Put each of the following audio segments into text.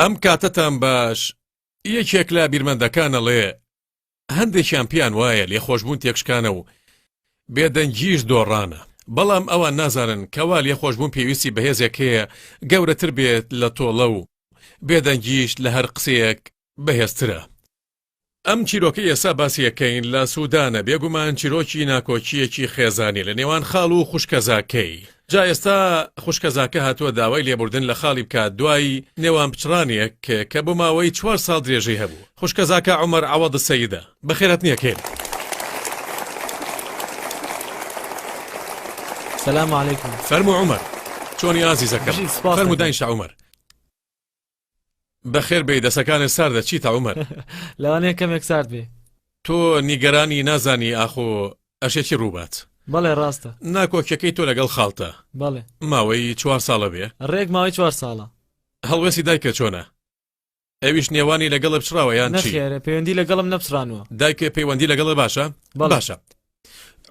ئەم کاتەتان باش یەکێک لە بیرمەندەکان ئەڵێ هەندێکیان پێیان وایە لێخۆشبوون تێکشکانە و بێدەنگیش دۆڕانە بەڵام ئەوان نازانن کەوا لێخۆشبوون پێویستی بەهێزێک هەیە گەورەتر بێت لە تۆڵە و بێدەنگیش لە هەر قسەیەک بەهێزترە ئەم چیرۆکەی ئێستا باسی ئەکەین لە سودانە بێگومان چیرۆکی ناکۆکییەکی خێزانی لە نێوان خاڵ و خوشکەزاکەی جا ئێستا خوشکەزاکە هاتووە داوای لێبوردن لە خاڵی بکات دوای نێوان پچڕانێک کە بۆ ماوەی چوار ساڵ درێژەی هەبوو خوشکەزاکە عمر عوض سەیدە بەخێرەتنیەکەین. سلام علیکم فەرمو عمر چۆنی ئازیزەکەم فەرمو داینشە عمر. بەخێر بێی دەسەکانێ ساردە چیتە عومەر. لەوانەیە کەمێک سارد بێ. تۆ نیگەرانی نازانی ئاخۆ ئەشێ چی ڕووبات. بەڵێ ڕاستە. ناکۆکیەکەی تۆ لەگەڵ خاڵتە. بەڵێ. ماوەی چوار ساڵە بێ. ڕێک ماوەی چوار ساڵە. هەڵوێستی دایکە چۆنە؟ ئەویش نێوانی لەگەڵە پچڕاوە یان چی؟ نەخێر پەیوەندی لەگەڵم نەپچڕانوە. دایکێ پەیوەندی لەگەڵە باشە؟ بەڵێ. باشە.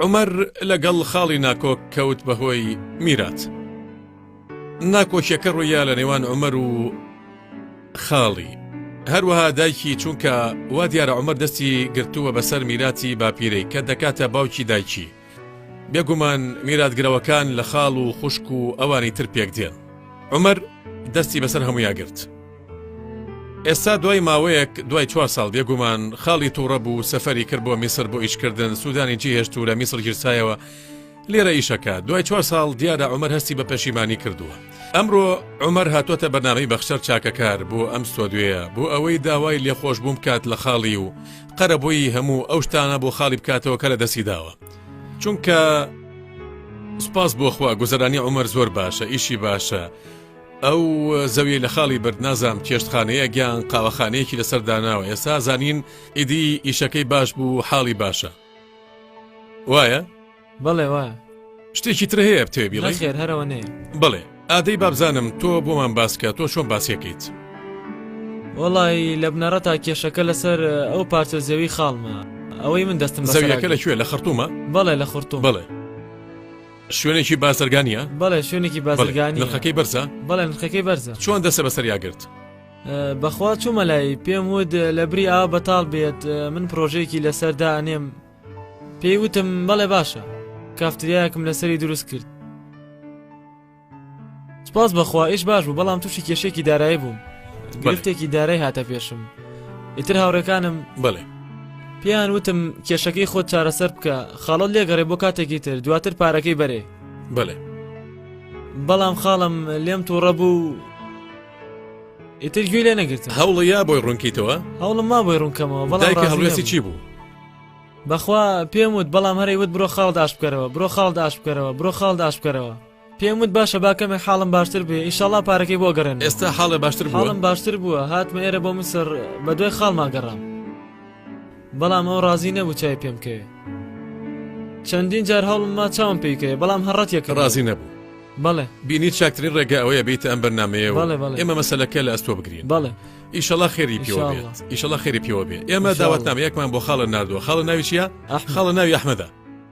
عومەر لەگەڵ خاڵی ناکۆک کەوت بەهۆی میرات ناکۆکیەکە ڕوویا لە نێوان عمەر و خاڵی هەروەها دایکی چونکە وا دیارە عمەر دەستی گرتووە بەسەر میراتی باپیرەی کە دەکاتە باوکی دایکی بێگومان میراتگرەوەکان لە خاڵ و خوشک و ئەوانی تر پێک دێن عمەر دەستی بەسەر هەمویاگررت ئێستا دوای ماوەیەک دوای چوار ساڵ بێگومان خاڵی تووڕە بوو سەفەری کرد بۆ میسر بۆ ئیشکردن سوودانی جیهێشت و لە میسر گیرسایەوە لێرە ئیشەکە دوای چوار ساڵ دیارە عمر هەستی بە پەشیمانی کردووە ئەمڕۆ عمر هاتوۆتە بەناوی بەخشەر چاکەکار بۆ ئەم سۆدوێە بۆ ئەوەی داوای لێخۆش بووم کات لە خاڵی و قەرەبووی هەموو ئەو شتانە بۆ خاڵی بکاتەوە کە لە دەستی داوە چونکە سپاس بۆخوا گوزەرانی عمر زۆر باشە ئیشی باشە ئەو زەویەی لە خاڵی برد نازام چێشتخانەیە گیان قاوەخانەیەکی لەسەر داناوە ئێستا زانین ئیدی ئیشەکەی باش بوو حاڵی باشە وایە؟ بەڵێ وایە شتێکی تر هەیە بتێ بیڵێ خێر هەرەوە نێ بڵێ ئادەی بابزانم تۆ بۆمان باسکە تۆ چۆن باسیەکەیت وڵی لە بنەڕە تا کێشەکە لەسەر ئەو پارچە زەوی خاڵمە ئەوەی من دەستم زەویەکە لەکوێ لە خرتومە بەڵێ لە خورتو بڵێ شوێنێکی بازرگانە؟ بەڵێ شوێنێکی بازرگانی نرخەکەی بەرزە؟ بەڵێ نرخەکەی بەرزە چۆن دەسە بەسەر یاگرت؟ بەخوا چوومە لای پێم وت لە بری ئا بەتاڵ بێت من پرۆژێکی لەسەردا ئەنێم پێی وتم بەڵێ باشە کافتریاکم لەسەری دروست کرد سپاس بەخوا ئیش باش بوو بەڵام تووشی کێشێکی دارایی بووم گرفتێکی دارای هاتە پێشم ئیتر هاوڕێکانم بڵێ پێیان وتم کێشەکەی خۆت چارەسەر بکە خاڵت لێگەڕێ بۆ کاتێکی تر دواتر پارەکەی بەرێ بڵێ بەڵام خاڵم لێم تووڕە بوو ئیتر گوێ لێ نەگرت هەوڵە یا بۆی ڕوونکەیتەوە هەوڵم ما بۆی ڕوونکەمەوە بەڵای هەڵوێستی چی بوو بەخوا پێم وت بەڵام هەرەی وت بڕۆ خاڵ داش بکەرەوە بڕۆ خاڵ داش بکەرەوە بڕۆ خاڵ داش بکەرەوە پێم وت باشە با کەمێک حاڵم باشتر بێ ئیشەڵا پارەکەی بۆ گەڕێن ئێستا حاڵێ باشتر حاڵم باشتر بووە هاتمە ئێرە بۆ مسر بە دوای خاڵما گەڕام بەڵام ئەو ڕازی نەبوو چای پێم کەێ چەندین جار هەڵم ما چاوم پێیکەێ بەڵام هەڕەت یەکە ڕازی نەبوو بەڵێ بینی چاکترین ڕێگە ئەوەیە بیت ئەم بەرنمەیە ئێمە مەسلەکە لە ئەستۆ بگرین بەڵێ ئیشەڵا خێری پێوە ئیشەڵا خێری پێوە بێ ئێمە داواتنامە یەکمان بۆ خاڵە نردووە خاڵە ناویشە خاڵە ناوی ئەحمەدا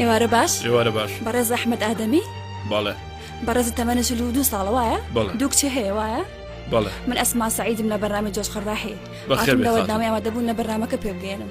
ئێوارە باش ئێوارە باش بەڕێز ئەحمد ئادەمی بەڵێ بەڕێزی تەمەە چل و دو ساڵ وایە دوو کچێ هەیە وایە بەڵێ من ئەسما سعیدم لە بەرنامی جۆش خڕداحی بەخێرەوەدامی ئەوە دەبوون لە بەرنمەکە پێ بگەێنم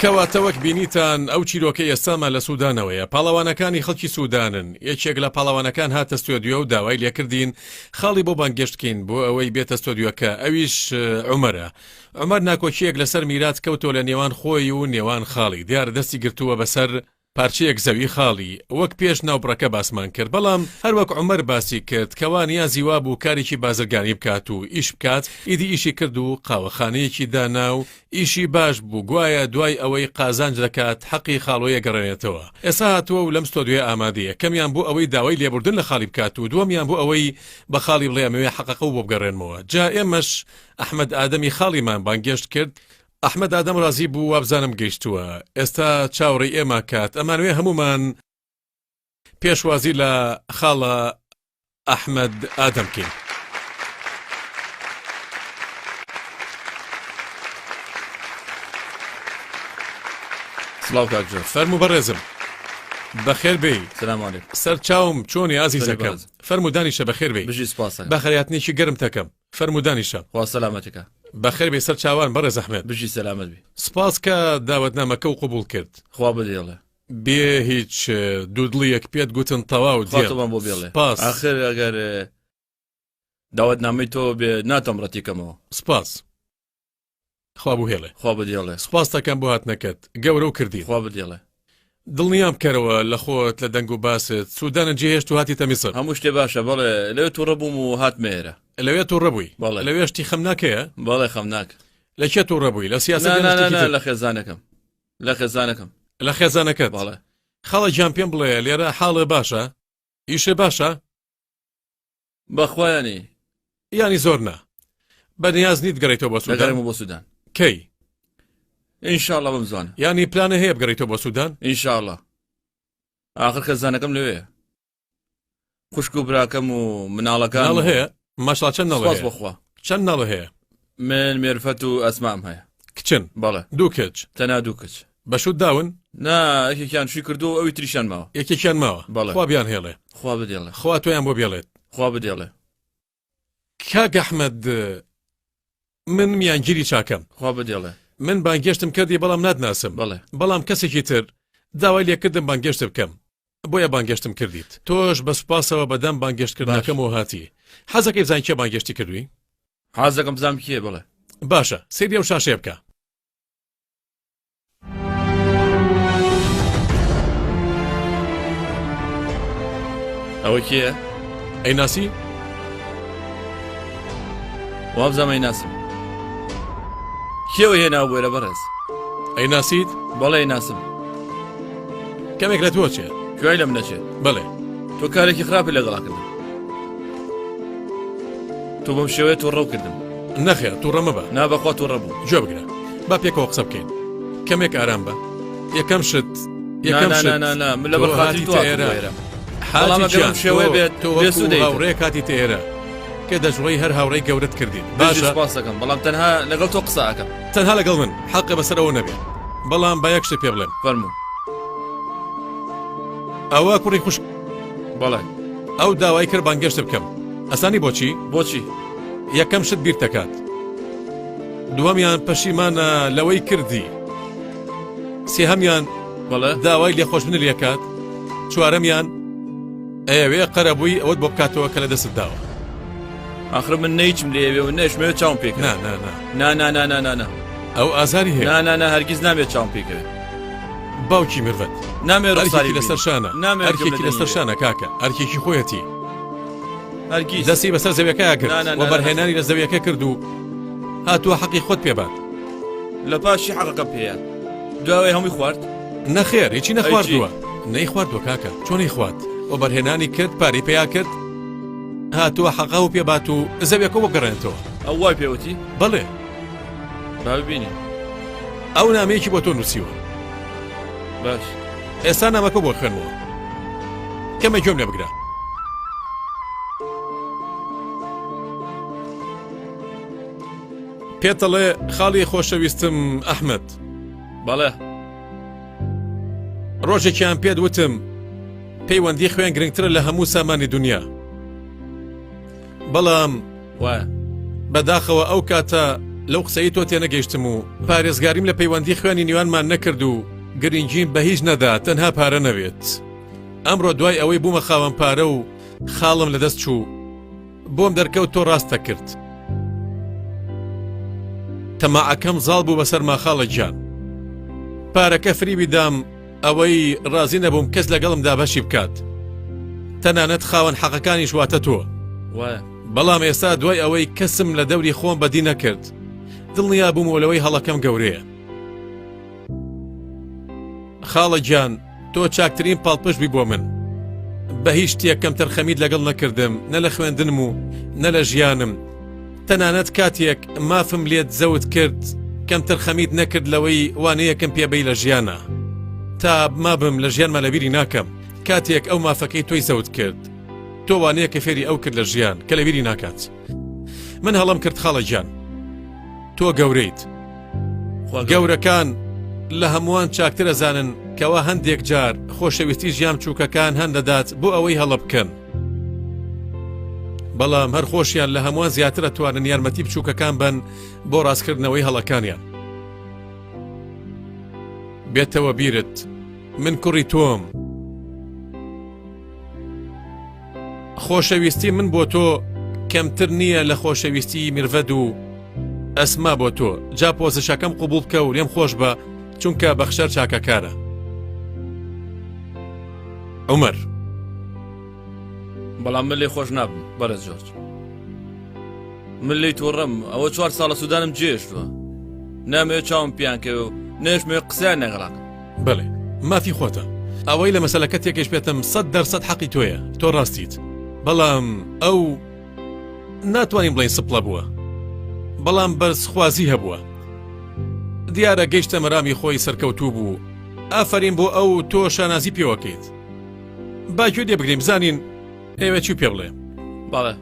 کەواتە وەک بینیتان ئەو چیرۆکە ئێستامان لە سوودانەوەیە پاڵەوانەکانی خەڵکی سوودانن یەکێک لە پاڵەوانەکان هاتە ستۆدیۆ و داوای لێکردین خاڵی بۆ بانگێشتکەین بۆ ئەوەی بێتە ستۆدیۆکە ئەویش عمرە ئەمەر ناکۆکیەک لەسەر میرات کەوتۆ لە نێوان خۆی و نێوان خاڵی دیار دەستی گرتووە بەسەر پارچەیەک زەوی خاڵی وەک پێش ناوبڕەکە باسمان کرد بەڵام هەر وەک عومەر باسی کرد کەوا نیازی وابوو کارێکی بازرگانی بکات و ئیش بکات ئیدی ئیشی کرد و قاوەخانەیەکی دانا و ئیشی باش بوو گوایە دوای ئەوەی قازانج دەکات حەقی خاڵۆی ئەگەڕێنێتەوە ئێستا هاتووە و لەم ستۆدیۆیە ئامادەیە یەکەمیان بۆ ئەوەی داوای لێبوردن لە خاڵی بکات و دووەمیان بۆ ئەوەی بە خاڵی بڵێ ئەمەوێ حەقەقە و بۆ بگەڕێنمەوە جا ئێمەش ئەحمەد ئادەمی خاڵیمان بانگێشت کرد ئەحمەد ئادەم ڕازی بوو وابزانم گەیشتووە ئێستا چاوەڕێی ئێمە کات ئەمانوێ هەموومان پێشوازی لە خاڵە ئەحمەد ئادەم کەین سلااو کاکجار فەرمو بەڕێزم بەخێر بێ سەرچاوم چۆنی ئازیزەکە فەرمودانی شە بەخێر بێ بژی سپاس بەخەراتنیی گەرم تەکەم فەرموو دانیشە خوا سەلامەتکا. بەخێر بێی سەر چاوان بەڕێز ئەحمەد. بژی سەلامەت بی. سپاس کە داوەتنامەکەو قبوڵ کرد. خوا بەدێڵە. بێ هیچ دوودڵیەک پێت گوتن تەواو دێم. خوا تۆمان بۆ بێڵێ. سپاس. ئاخر ئەگەر داوەتنامەی تۆ بێ ناتوانم ڕەتی کەمەوە. سپاس. خوا بوهێڵێ. خوا بەدێڵێ. سوپاست دەکەم بۆ هاتنەکەت. گەورە و کردین. خوا بەدێڵێ. دڵنیام بکەرەوە لە خۆت لە دەنگ و باست سودانت جێ هێشت و هاتیتە میسر. هەموو شتێ باشە بەڵێ لەوێ توڕە بووم و هاتمە ئێرە. لەوێ توڕە بووی؟ بەڵێ. لەوێ شتی خەمناک هەیە؟ بەڵێ خەمناک. لە کێ توڕە بووی؟ لە سیاسەت یان شتێکی تر؟ نا نا نا لە خێزانەکەم. لە خێزانەکەم. لە خێزانەکەت؟ بەڵێ. خاڵە گیان پێم بڵێ لێرە حاڵێ باشە؟ ئیشێ باشە؟ بەخوا یانی یانی زۆر نا بە نیاز نیت گەڕێتەوە بۆ سوودان بۆ سوودان کەی ئینشاءڵە بم زوان ینی پلانە هەیە بگەڕێتەوە بۆ سوودان ئینشاءڵە آخر خەزانەکەم لەوێ خوشک و براکەم و مناڵەکان هەیە ماشڵا چەند نەڵێ بەخوا چەند نەڵە هەیە من مێرفەت و ئەسمام هەیە. کچن؟ بەڵێ. دوو کچ؟ تەنها دوو کچ. بە شووت داون؟ نا، یەکێکیان شووی کردووە و ئەوی تریشیان ماوە. یەکێکیان ماوە؟ بەڵێ. خوا بیانهێڵێ. خوا بدێڵێ. خوا تۆیان بۆ بێڵێت. خوا بدێڵێ. کاک ئەحمەد، من میانگیری چاکەم. خوا بدێڵێ. من بانگێشتم کردی بەڵام ناتناسم. بەڵێ. بەڵام کەسێکی تر داوای لێ کردم بانگێشت بکەم. بۆیە بانگێشتم کردیت تۆش بە سوپاسەوە بە دەم بانگێشت کردنەکەمەوە هاتی حەزەکەی بزان کێ بانگێشتی کردوی حازەکەم بزانام کێ بڵێ باشە سری ئەو شاشێ بکە ئەوە کێ ئەی ناسی وابزەمەی ناسم کێوە هێنا بۆێرە بەڕێز ئەی ناسیت بەڵێ ناسم کەمێک لە تۆ چێت کوێی لەم نەچێت بڵێ تۆ کارێکی خراپی لەگەڵاکردن تۆ بەم شێوەیە تۆ ڕەو کردم نەخێر تو ڕەمە بە نابەخوا تۆ ڕەبوو جێ بگرە با پێکەوە قسە بکەین کەمێک ئارام بە یەکەم شت یەکەم لە بەخاتی تۆ ئێرە حاڵامەگەم شێوەیە بێت تۆ هاوڕێ کاتی تێرە کە دەژڵی هەر هاوڕێی گەورت کردین باشە پاسەکەم بەڵام تەنها لەگەڵ تۆ قساکەم تەنها لەگەڵ من حەقە بەسەر ئەوە نەبێ بەڵام با یەک شتێ پێ بڵێم فەرموو ئەوە کوڕی خوشک بەڵێ ئەو داوای کرد بانگێشت بکەم ئەسانی بۆچی بۆچی یەکەم شت بیر دەکات دووەمیان پەشیمانە لەوەی کردی سێهەمیان بەڵێ داوای لێخۆشبن لەکات چوارەمیان ئەوێ قەرەبووی ئەوەت بۆ بکاتەوە کە لە دەست داوە ئاخر من نەیچم لێوێ و نەشمەوێت چاوم پێکنا نانا نا نا نا نا نا نا. ئەو ئازاری هەیە. نا نا نا هەرگیز نامێ چاوم پێی کەوێ. باوکی مرڤەت. نامێ ڕوخساری ببینم. ئەرکێکی لەسەر شانە. نامێ ئەرکێکی لەسەر شانە. ئەرکێکی لەسەر شانە کاکە. ئەرکێکی خۆیەتی. هەرگیز. دەستی بەسەر زەویەکەیا کرد. نا نا نا. وەبەرهێنانی لە زەویەکە کرد و هاتووە حەقی خۆت پێ بات. لە پاشی حەقەکەم پێیە. دواوەی هەمووی خوارد؟ نەخێر هیچی نەخواردووە. نەی خواردووە کاکە. چۆنی خوارد؟ وەبەرهێنانی کرد پارەی پێیا کرد هاتووە حەقە و پێ بات و زەویەکە وەگەڕێنێتەوە. ئەو وای پێ وتی؟ بەڵێ. با ببینین. ئەو نامەیەکی بۆ تۆ نووسیوە. باش. ئێستا نامەکە بۆ خوێنەوە. کەمێک گوێم لێ بگرە. پێتەڵێ خاڵی خۆشەویستم ئەحمد بەڵێ ڕۆژێکیان پێت وتم پەیوەندی خوێن گرنگترە لە هەموو سامانی دنیا بەڵام وە بەداخەوە ئەو کاتە لەو قسەی تۆ تێنەگەیشتم و پارێزگاریم لە پەیوەندی خوێنی نیوانمان نەکرد و گرنگیم بە هیچ نەدا تەنها پارە نەوێت ئەمڕۆ دوای ئەوەی بوومە خاوەن پارە و خاڵم لەدەست چوو بۆم دەرکەوت تۆ ڕاستە کرد تەماعەکەم زاڵ بوو بەسەر ماخاڵە گیان پارەکە فریوی دام ئەوەی ڕازی نەبووم کەس لەگەڵم دابەشی بکات تەنانەت خاوەن حەقەکانیش واتە تۆ بەڵام ئێستا دوای ئەوەی کەسم لە دەوری خۆم بەدی نەکرد دڵنیا بوومەوە لەوەی هەڵەکەم گەورەیە خاڵە گیان تۆ چاکترین پاڵپش بی بۆ من بە هیچ شتێکەم تەرخەمیت لەگەڵ نەکردم نە لە خوێندنم و نە لە ژیانم تەنانەت کاتیەک مافم لێت زەوت کرد کەمتر خەمیت نەکرد لەوەی وانەیەکم پێبەی لە ژیانە تا مابم لە ژیان مەلەبیری ناکەم کاتێک ئەو مافەکەی تۆی زەوت کرد تۆ وانەیە کە فێری ئەو کرد لە ژیان کە لەبیری ناکات من هەڵم کرد خاڵە گیان تۆ گەورەیت گەورەکان لە هەمووان چاکترە زانن کەوا هەندێک جار خۆشەویستی ژیان چووکەکان هەندەدات بۆ ئەوەی هەڵە بکەن بەڵام هەر خۆشیان لە هەمووان زیاترە توانن یارمەتی بچووکەکان بن بۆ ڕاستکردنەوەی هەڵەکانیان بێتەوە بیرت من کوڕی تۆم خۆشەویستی من بۆ تۆ کەمتر نییە لە خۆشەویستی مرڤەد و ئەسما بۆ تۆ جا پۆزشەکەم قوبول بکە و لێم خۆش بە چونکە بەخشەر چاکەکارە عمر بەڵام من لێ خۆش نابم بەرە جۆرج من لی تۆڕم ئەوە چوار ساڵە سوودانم جێشتوە نامێ چاوم پیانکەوە و نێشمێ قسەیان نەگەڵاک بڵێ مافی خۆتە ئەوەی لە مەسلەکە تێکش پێتم سەد دەرسەد حەقی تۆیە تۆ ڕاستیت بەڵام ئەو ناتوانین بڵێین سپڵە بووە بەڵام بەرزخوازی هەبووە دیارە گەیشتە مەرامی خۆی سەرکەوتوو بوو ئافرین بۆ ئەو تۆ شانازی پێوەکەیت باگوێ دێ بگرین بزانین ئێوە چی پێ بڵێ باڵە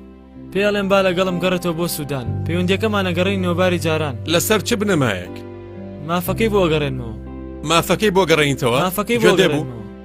پێڵێن با لەگەڵم گەڕێتەوە بۆ سوودان پەیوەندەکەمانەگەڕی نۆباری جاران لەسەر چ بنەمایەک مافەکەی بۆ گەڕێنەوە مافەکەی بۆ گەڕێنیتەوە مافەکەی بۆ دەبوو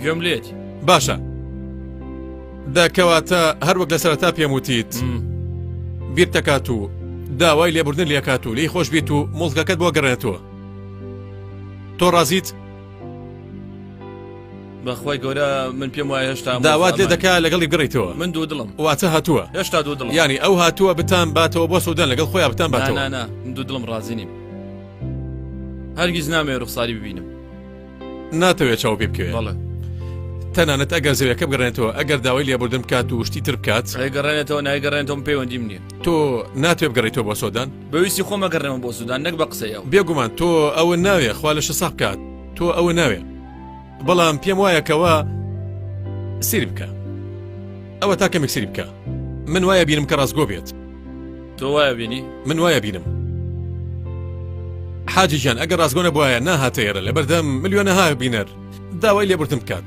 گوێم لێت باشە دەکەواتە هەروەک لە سەرتا پێم وتیت بیر دەکات و داوای لێبوردن لێکات و لی خۆش بیت و مڵکەکەت بۆ گەڕێتەوە تۆ ڕازیت بەخوای گەورە من پێم وایە هێشتا داوات لێ دەکا لەگەڵی بگەڕیتەوە من دوو دڵم واتە هاتووە هێشتا دوو دڵ ینی ئەو هاتووە بتان باتەوە بۆ سوودان لەگەڵ خۆیان بتان باتەوە دوو دڵم ڕازی نیم هەرگیز نامێ ڕوخساری ببینم ناتەوێت چاو پێ بکەوێت بەڵێ تەنانەت ئەگەر زەوەکە بگەڕێنێتەوە ئەگەر داوای لێبوردن بکات و شتی تر بکات ئەگەڕێنێتەوە نایگەڕێنەوەم پەیوەندیم نیە تۆ ناتێ بگەڕێتەوە بۆ سۆدان بەویستی خۆمە گەڕێمە بۆ سودان نەک بە قسەیە بێگومان تۆ ئەوە ناوێ خوا لە شسا بکات تۆ ئەوە ناوێ بەڵام پێم وایەکەوە سری بکە ئەوە تاکە میکسری بکە من وایە بینم کە ڕاستگۆ بێت تۆ وایە بینی من وایە بینم حاجی گیان ئەگەر ڕاستگۆ نەبواە ناهاتە ئێرە لەبەردەم ملیۆنەها بینەر داوای لێبوردن بکات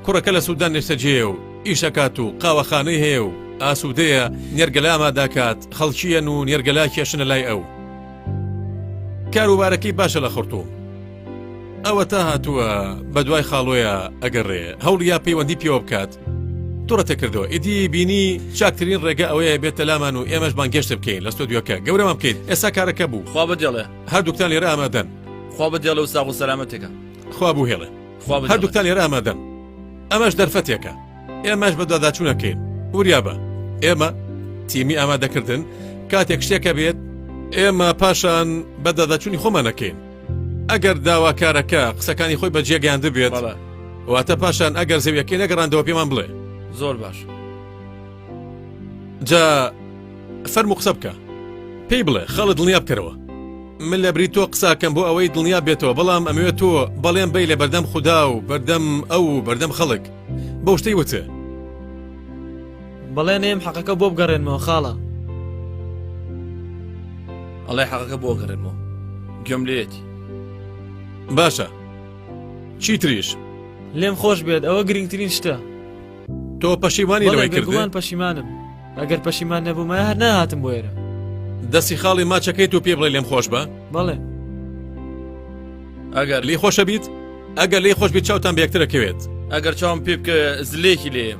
کوڕەکە لە سوودان نێشتەجێ و ئیشەکات و قاوەخانەی هەیە و ئاسوودەیە نێرگەلا ئاماداکات خەڵکیەن و نێرگەلا کێشنە لای ئەو کاروبارەکەی باشە لە خڕتوو ئەوەتا هاتووە بە دوای خاڵۆیە ئەگەڕێ هەوڵیا پەیوەندی پێوە بکات تڕەتە کردەوە ئیدی بینی چاکترین ڕێگە ئەوەیە بێتە لامان و ئێمەش بانگەشت بکەین لە ستۆدیۆکە گەورەمان بکەیت ئێستا کارەکە بوو خوا بەدێڵێ هەردووکتان لێرە ئامادەن خوا بەدێڵە و ساغ و سەلامەتێکە خوا بوو هێڵێ خوا بەدێڵێ. هەردووکتان لێرە ئامادەن ئەمەش دەرفەتێکە ئێمەش بە دواداچوونەکەین وریابە ئێمە تیمی ئامادەکردن کاتێک شتێکە بێت ئێمە پاشان بەداداچوونی خۆمانەکەین ئەگەر داواکارەکە قسەکانی خۆی بە جێگەیاند بێت واتە پاشان ئەگەر زەویەکەی نەگەڕاندەوە پێمان بڵێ زۆر باش جا فەرمو قسە بکە پێی بڵێ خەڵت دڵنیا بکەرەوە من لە بری تۆ قساکەم بۆ ئەوەی دڵنیا بێتەوە بەڵام ئەمەوێت تۆ بەڵێن بی لە بەردەم خوددا و بەردەم ئەو و بەردەم خەڵک بەو شتەی وتە بەڵێ نەیەم حەقەکە بۆ بگەڕێنمەوە خاڵە. ئەڵێ حەقەکە بۆ گەڕێنمەوە گوێم لێتی باشە چیتریش لێم خۆش بێت ئەوە گرنگترین شتە تۆ پەشیمانی لەوەی کردوان پەشیمانم ئەگەر پەشیمان نەبوومە هەر ناهاتم بۆ ئێرە دەستی خاڵی ماچەکەی تو پێ بڵێ لێم خۆش بە بەڵێ ئەگەر لی خۆشە بیت ئەگەر لی خۆش بیت چاوتان بێکترەکەوێت ئەگەر چاوم پێ بکە زلێکی لێم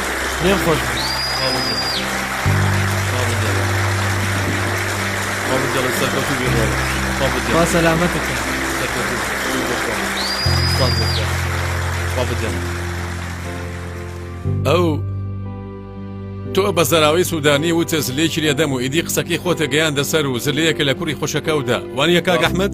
پێم خۆش بوو خوا سەلامەتت کە ئەو تۆ بە زەراوی سوودانی وتە زلێکی لێدەم و ئیدی قسەکەی خۆتە گەیاندە سەر و زلەیەکە لە کوڕی خۆشەکەودا وانە کاک ئەحمد؟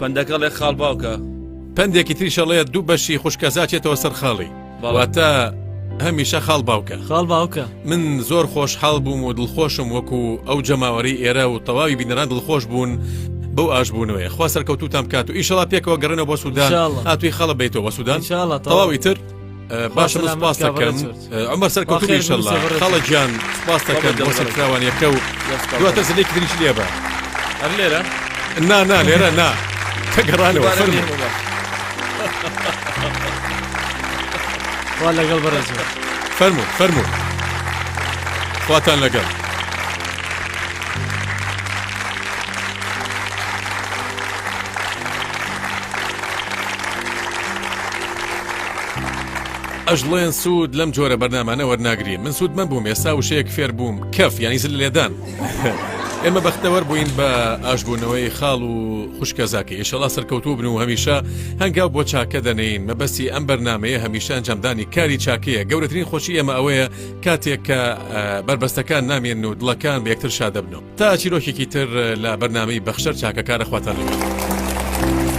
پەندەکە ڵێ خاڵ باوکە پەندێکی تریشە ڵێ دوو بەشی خوشکەزاچێتەوە سەر خاڵی باواتە هەمیشە خاڵ باوکە خاڵ باوکە من زۆر خۆش حاڵ بووم و دڵخۆشم وەکو ئەو جەماوەری ئێرە و تەواوی بینەران دڵخۆش بوون بەو ئاشبوونەوەی خوا سەرکەوتوتان کات و ئیشەڵا پێکەوە گەڕێنەوە بۆ سوودان هاتووی خەڵە بیتەوە سوودان تەواوی تر باشە لە سپاس دەکەم ئەمە سەرکەوتوبی شەڵا خەڵە گیان سپاس دەکەن بۆ سەرکراوانیەکە و دواتە زلێک دریش لێ بە هەر لێرە نا نا لێرە نا تەگەڕانەوە فەرمی وا لەگەڵ بەڕێز فەرمو فەرمو خواتان لەگەڵ ئەژڵێن سوود لەم جۆرە بەرنامانە وەرناگرین من سوود مەبووم ئێستا وشەیەک فێر بووم کەف ینی زل لێدان ئێمە بەختەوەەر بووین بە ئاشبوونەوەی خاڵ و خوشکە زاکە ئیشەڵا سەرکەوتوو بن و هەمیشە هەنگاو بۆ چاکە دەنین مەبەستی ئەم بەرنمەیە هەمیشە ئەنجامدانی کاری چاکەیە گەورەترین خۆشی ئێمە ئەوەیە کاتێک کە بربەستەکان نامێن و دڵەکان بە یەکتر شادەبنەوە تا چیرۆکێکی تر لە بەرنمەی بەخشەر چاکەکارە خواتان لەگەڵ.